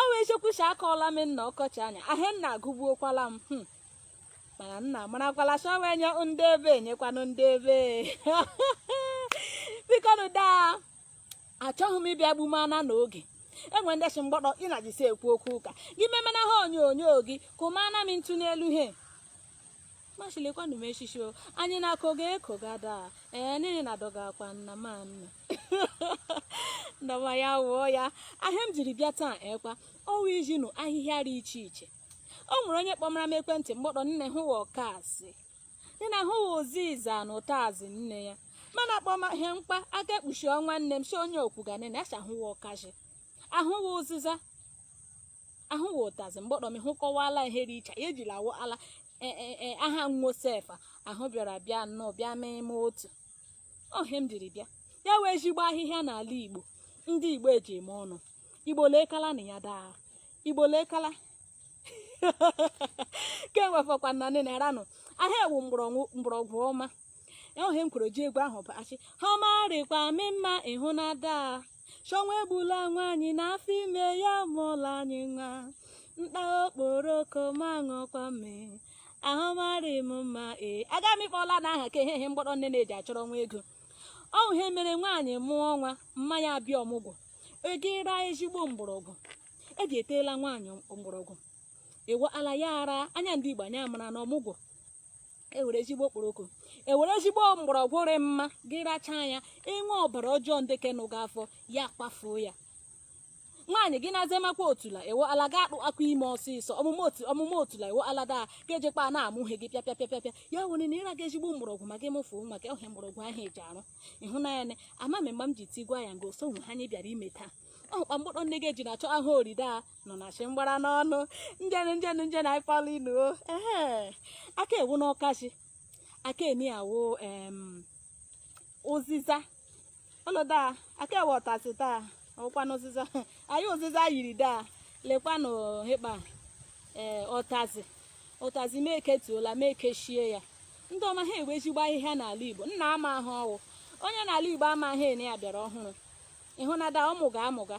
ọ wee chekwucha akọọla m nna ọkọchị anya ahịa nna agụgbuokwala m hmm. mana nna marakwala chọwa enye ndị ebe enyekwanụ ndị ebe bikonu daa achọghị m ịbịa gbumana n'oge enwe ndị si mgbọtọ ị na-ajisi ekwu okwu ụka gị memena ha onyonyo gị kụmana m ntụ n'elu he machilekwanụ m echichi o anyị na-akọ ga eko ga daa ee n'ihi na dọga akwa nna ma nna ndọma ya wụ ya ihe m jiri bịa taa ekwa ọ wụ izi ụnụ ahịhịa dị iche iche o nwere onye kpọmara m ekwentị mgbọtọ nne hụ wụ ọkazị nne na hụ wụ ụzịza na ụtazị nne ya mana kpọma ihe mkpa aka ekpuchi ọnwa nne m si onye okwu ga nene achahụ wụ ọkazị ahụ wụ ụzịza ahụ wụ ụtazị mgbọtọ m hụkọwala ihe dị iche ya ejila awụ ala e, e, e, aha nwosefa ahụ bịara bịa nnọọ bịa mee ime otu ohe m jiri bịa ya wụ ezigbo ahịhịa n'ala igbo ndị igbo eji eme ọnụ igbo lekala na ya daa igbo lekala kemgbe fọkwa na nne na-eranụ ahịa ewu mgbọrọgwụ ọma ya ohe m kwuru ji egwu ahụ bụ achị ha ọma rịkwa mee mma ịhụ na daa sị ọnwụ egbula nwaanyị n'afọ ime ya mụọla anyị nwa m taa okporoko ma ṅụọkwa mmịị ahụ marị m mma ee aga m ịkpọla na aha ka ihe ihe mgbọtọ nne na-eji achọrọ nwa ego ọ wụ ihe mere nwaanyị mụọ nwa mma ya abịa ọmụgwọ e jiri ezigbo mgbọrọgwụ eji eteela nwaanyị mgbọrọgwụ ịwala ya ara anya ndị igbo anya mara na ọmụgwọ ewere ezigbo okporoko ewere ezigbo mgbọrọgwụ rị mma gị rachaa ya ihe wụ ọbara ọjọọ ndị kenụ gị afọ ya kpafuo ya nwaanyị gị na-azemakwa otula ewo ala ga akpụ akwa ime ọsịsọ ọmụmụ otu ọmụmụ otula ewo ala daa ka ejekpa na-amụghị gị pịa pịa pịa pịa pịa ya were na ịra gị ezigbo mgbọrọgwụ ma gị mụfuo nwa gị ọhịa mgbọrọgwụ ahụ eji arụ ịhụnanya na amamị mgbe m ji tigwa ya ngo so nwe ha anyị bịara ime taa ọkpa mkpụrụ nne gị ji na-achọ ahụ oride a nọ na chi mgbara n'ọnụ njenụ njenụ njenụ anyị kpọrọ inu o ehe aka wụnụ ọkazị aka eni awụ em ụzịza ọlọda aka ewe ọtazị taa ọkwanụ ụzịza anyị ụzịza yiri daa lekwanụ hịkpa ee ọtazị ọtazị ma eketuola ma ekechie ya ndị ọma ha wụ ezigbo ahịhịa n'ala igbo nna ama ahụ ọwụ onye n'ala igbo amaghị ene ya bịara ọhụrụ ịhụnada ọmụga amụga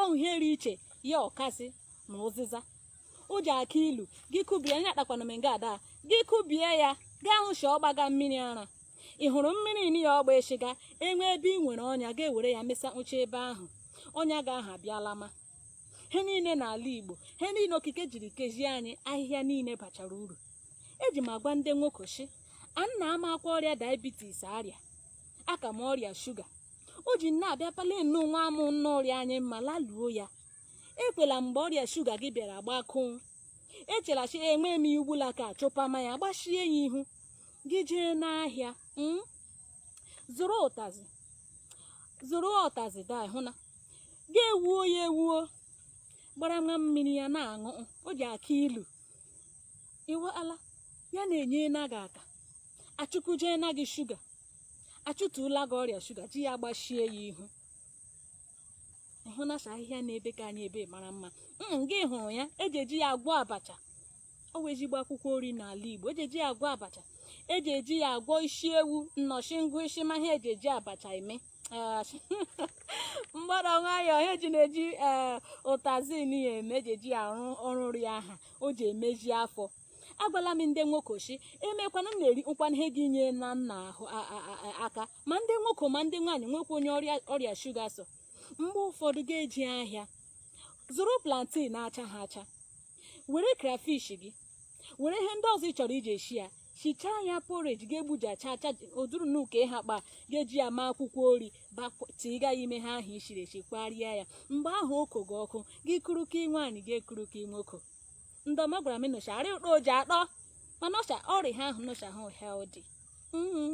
ọ wụ ihe rị iche ya ọkazị na ụzịza o ji aka ilu gị kubie anya kpakwana m nga ada gị kubie ya ga-ahụ shi ọgbaga mmiri ara ị hụrụ mmiri ini ya ọgba eshiga enwe ebe ị nwere ọnya ga-ewere ya mesa nche ebe ahụ ọnya ga aha abịala ma he niile n'ala igbo he niile okike jiri kezie anyị ahịhịa niile bachara uru eji m agwa ndị nwoke shi a nna amakwa ọrịa diabetes ọrịa akọm ọrịa shuga o ji nne abịa palee nnọọ nwa amụ nne ọ rị anyị mma laluo ya ekwela mgbe ọrịa shuga gị bịara gbakụụ echela shi enwe m ya ugbula ka chụpama ya gbachie ya ihu gị jee n'ahịa mm? zụrụ ụtazị zụrụ ụtazị da hụ na gị ewuo ya ewuo gbara nwa mmiri ya na-aṅụ o ji aka ilu iwe ala ya na-enye na gị aka achụkuje na gị shuga achụtụla gị ọrịa shuga ji ya gbachie ya ihu ịhụ na ahịhịa na-ebe ka anyị ebe mara mma mm, gị hụrụ ya eji eji ya agwọ abacha ọ wụ ezigbo akwụkwọ nri n'ala Igbo eji eji ya agwọ abacha eji eji ya agwọ isi ewu nnọchi ngụ isi ma ihe eji eji abacha eme mgbada nwayọọ ha eji na-eji eh, ụtazị ya eme eji eji ya arụ ọrụ nri aha o ji emezi afọ agwala m ndị nwoko shi emekwana m na-eri nkwa ihe gị nye na nna ahụ aka ma ndị nwoke ma ndị nwaanyị nwekwa onye ọrịa shuga so mgbe ụfọdụ gị jee ahịa zụrụ plantain na-acha ha acha were crayfish gị were ihe ndị ọzọ ị chọrọ iji esi ya shichaa ya porridge ga-egbuji acha acha oduru na uke ha kpa ga-eji ya ma akwụkwọ nri tiga ya ime ihe ahụ i siri esi kwarịa ya mgbe ahụ oko gị ọkụ gị kuru ka nwaanyị ga-ekuru ka nwoke ndọm agwara m ụnụ shi arị ụtọ o ji atọ mana ọcha ọrịa ha ahụ nụcha ha healthy mm-hmm.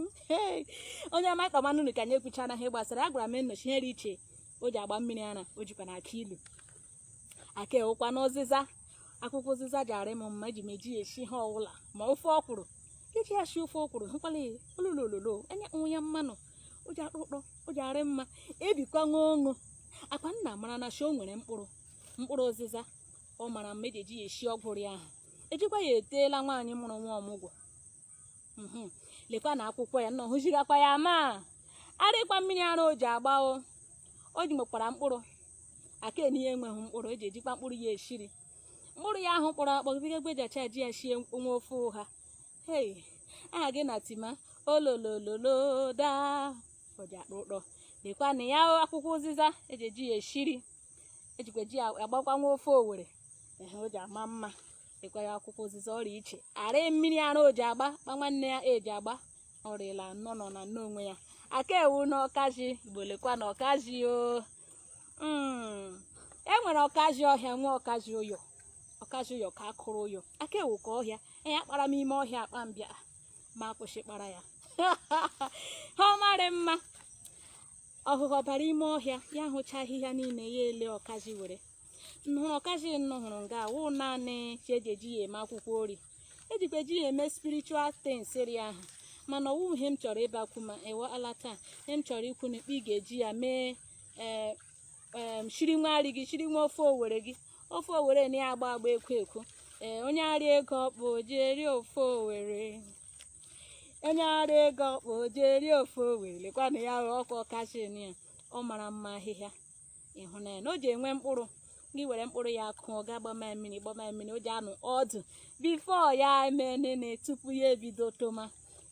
onye ọma ịkpa manụ ka anyị ekwucha na ihe gbasara a gwara m ụnụ shi ihe dị iche o ji agba mmiri ara o jikwa na aka ilu aka ewukwa n'ụzịza akwụkwọ ụzịza ji arị m mma eji m eji ya esi ihe ọwụla ma ofe ọkwụrụ iji ya si ofe ọkwụrụ hụkwala ya ololololo enye nwa ya mmanụ o ji atọ ụtọ o ji arị mma ebikwa nwa ọṅụ akwa nna mara na shi o nwere mkpụrụ mkpụrụ ụzịza ọ mara mma eji eji ya esi ọkwụrụ ahụ ejikwa ya eteela nwaanyị mụrụ nwa ọmụgwọ mhm. lekwa na akwụkwọ ya nọ hụzirakwa ya ma arịkwa mmiri ara o ji agba o o ji nwekwara mkpụrụ aka enye ya enweghị mkpụrụ eji ejikwa mkpụrụ ya esi nri mkpụrụ ya ahụ kpọrọ akpọ gịgagbe ji acha ji ya sie nwa ofe ụha hei aha gị na tima ololololo daa o ji atọ ụtọ lekwa na ya akwụkwọ ụzịza eji eji ya esi nri ejikwa ji ya agbakwa nwa ofe Owere ehe o ji ama mma lekwa ya akwụkwọ ụzịza ọ rị iche arị mmiri ara o ji agba kpa nwanne ya eji agba ọrịla anọ nọ na nne onwe ya aka ewu na ọkazị Igbo lekwa na ọkazị o Mm. e nwere ọkazị ọhịa nwee ọkazị ụyọ ọkazị ụyọ ka akụrụ ụyọ aka ewu ka ọhịa ya kpara m ime ọhịa akpa mbịa ma akwụsị kpara ya ha ọ marị mma ọhụhụ ọ bara ime ọhịa ya hụcha ahịhịa niile ya ele ọkazi were nhụrụ ọkazi nnụ hụrụ nga wụ naanị shi eji eji ya eme akwụkwọ ori ejikwa eji ya eme spiritual things ri ahụ mana ọ wụ ihe m chọrọ ịbakwu ma ewe ala taa ihe m chọrọ ikwu na ikpe ị ga-eji ya mee ee em, shiri nwa nri gị shiri nwa ofe owere gị ofe owere na ya agba agba ekwo ekwo ee onye arị ego ọkpụ ji eri ofe owere onye arị ego ọkpụ ji eri ofe owere lekwanụ ya hụ ọkwa ọkazi ya ọ mara mma ahịhịa ịhụnanya na o ji enwe mkpụrụ gị were mkpụrụ ya kụọ gị agbama mmiri gbama mmiri o ji anọ ọdụ before ya emee nene tupu ya ebido toma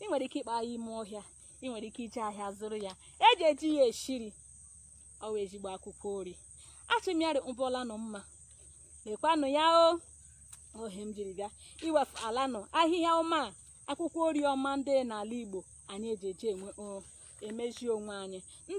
ị nwere ike ịkpa ya ime ọhịa ị nwere ike ije ahịa zụrụ ya eji eji ya eshi nri ọ wụ ezigbo akwụkwọ ori ashị m ya rị ụbọla nọ mma lekwanụ ya o ọ ihe m jiri bịa iwefutara unu ahịhịa ọma a, akwụkwọ ori ọma ndị n'ala igbo anyị eji eji enwe o, emezi onwe anyị